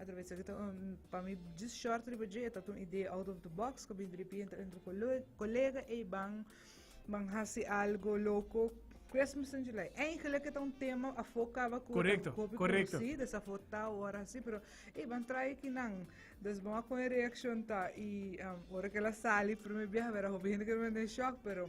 Atraves aki ta un, pa mi just short riba dje, ta un idea out of the box, ka bin dripi entre entre colega ey ban ban hasi algo loco. Christmas in July. Eigenlijk het een thema afo kaba ku Correcto, kopi correcto. kusi, dus afo ta ora si, pero e ban try ki nan. Dus bon kon reaksjon ta i um, ora ke la sali primer biaha, vera hopi hende ke mende shock, pero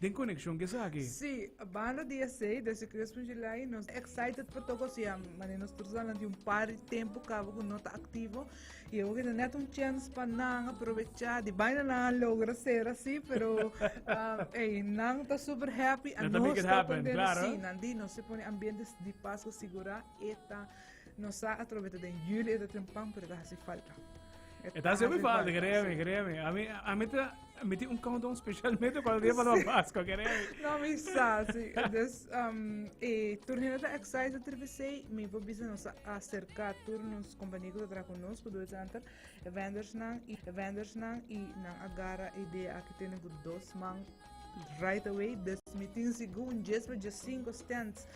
Den konekshon ku esaki. Sí, banda di esei, desde Crespo July, nos ta excited pa toca ocian mane nos tur ta lanti un par di tempu caba cu no ta activo y e hopi ta net un chance pa nan aprovecha di baina nan a logra ser asi, pero ey, nan ta super happy and Let the make nos it ta happen, aprende, claro. sí, nan di nos e pone ambientes di pas cu sigura e ta No sa atrobe ta den juli e ta ten pan, pero ta hasi falta. E ta hasi falta, créeme, créeme. A mi, a mi ta, mi ti un countdown specialmente cuando dia para Pascua, créeme. No, mi sa, sí. Dus, um, e turnino ta excise de tripesei, mi po bisa nos acerca tur nos compañía que tra con nos, kudu zanter, e vendors nan, i e vendors nan, i nan agarra idea aki tene ku dos man right away. Dus mi tin sigun jes pa jes cinco stands.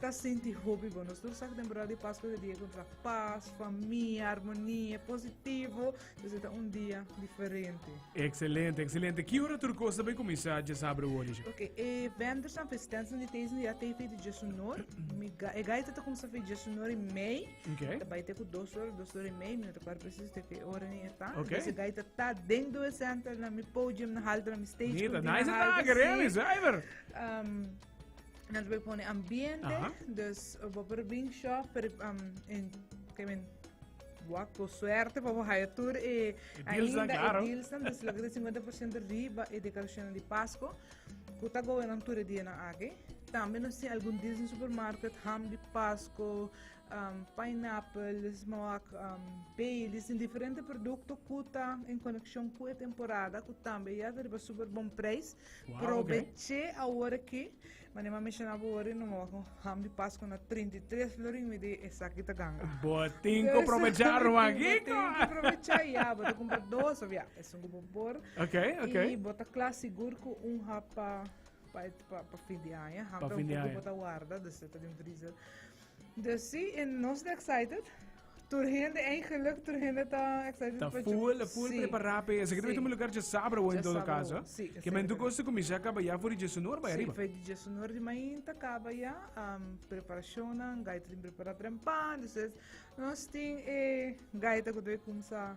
Ta sinti hopi bon. Nos tur sa ku temporada di Paskua ta e dia ku ta pas, famia, armonia, positivo. Pues e ta un dia diferente. Excelente, excelente. Ki ora tur kos ta bay kuminsá dje sábado wòrdu dje? Ok, e vendors nan, felicitants nan di Theisden ya ta e feita dje sunor. Mi ga, e gaita ta kuminsá feita dje sunor i mei. Ok. Ta bay te ku dos ora, dos ora i mei. Mi no ta kuadra presiso te ki ora ni e ta. Ok. Entonces e gaita ta den do e center nan, mi podium na halta nan, mi stage Mita, continua nice na halta, atake, sí. really, zuiver. Ehm, Nos voy pone ambiente, Aha. dus uh, bo por bring shop per um, en que men wak bo suerte pa bo haya tour e deals dan ainda caro. e deals dan dus lo que de 50% riba e decoración di Pasco. Kuta go en tour e dia na ake. También nos tiene algún deals en supermarket, ham di Pasco, um, pineapple, smoak, um, Baileys, en diferente producto kuta en conexión cu e temporada, ku también ya ta riba super bon prijs. Probeche awor ki, manera a menciona bo wori, no maba con ham di Pascua na 33 florin mi di esaki ta ganga. Bo tin ku probecha Ruma Kiko. Tin ku probecha ya, bo ta kumpra dos of ya, esun ku bo por. Okay, okay. I bo ta kla sigur ku un hap pa pa pa fin di aña, hap ta un poco bo ta warda, dus ta den freezer. Dus sí, i nos ta excited. Tur hende, eigenlijk, tur hende ta excited. Ta full, full prepará pe. Así que debe mi lugar dje sabra hoy en todo caso. Sí. Que men tu cosa comincia caba ya voor die Jesúnor bij arriba. Sí, voor die Jesúnor die main ta caba ya. Um, preparationen, gaita din prepara trempan. Dus es, nos tin e gaita que doe kumsa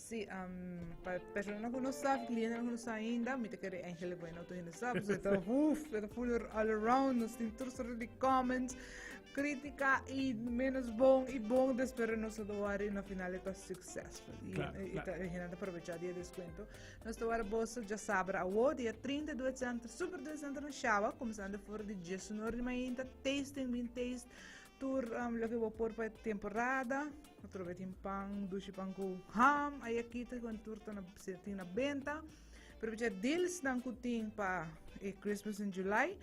Sí, pa personanan ku no sab, klientenan ku no sa ainda, mi ta kere Angel Bueno tu hende sab, so ta huf, ta full all around, nos tin tur sorto di comments, kritika i menos bon i bon, des pero nos ta wari na final ta successful. I, Klar, i klar. ta hende ta aprovecha dia descuento. Nos ta wari bos ja sabra awo, dia 30 Duet Center, Super Duet Center na Shaba, comenzando voor di 19 di mainta, tasting, bean taste, tur um, lo ke bo por pa e temporada. Otro bey tin pan, dushi pan cu ham ay aki te con tur ta na se tin na benta. Pero becha deals nan cu tin pa e Christmas in July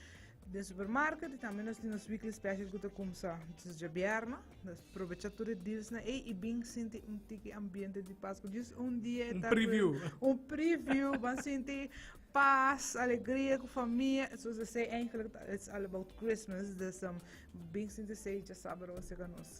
den supermarket y también nos tin nos weekly special cu ta kumsa dus ja bierna. Dus probecha tur e deals na ei y bin sinti un tiki ambiente di Pascua. Just un dia Un ta preview. cu- un preview, van sinti paz, alegria cu familia. Zoals ze zei eigenlijk, it's all about Christmas. Dus um, bin sinti zei ja sabado se ka nos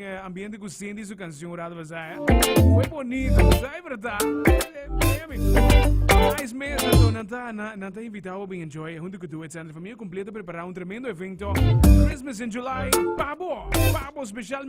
eh, ambiente cu Cindy su canción rato basa, eh. Muy bonito, basa, es verdad. Nice mes, so nanta, na- nanta invitado a enjoy junto con tu et Sandra Familia completa preparar un tremendo evento. Christmas in July, pabo, pabo especialmente.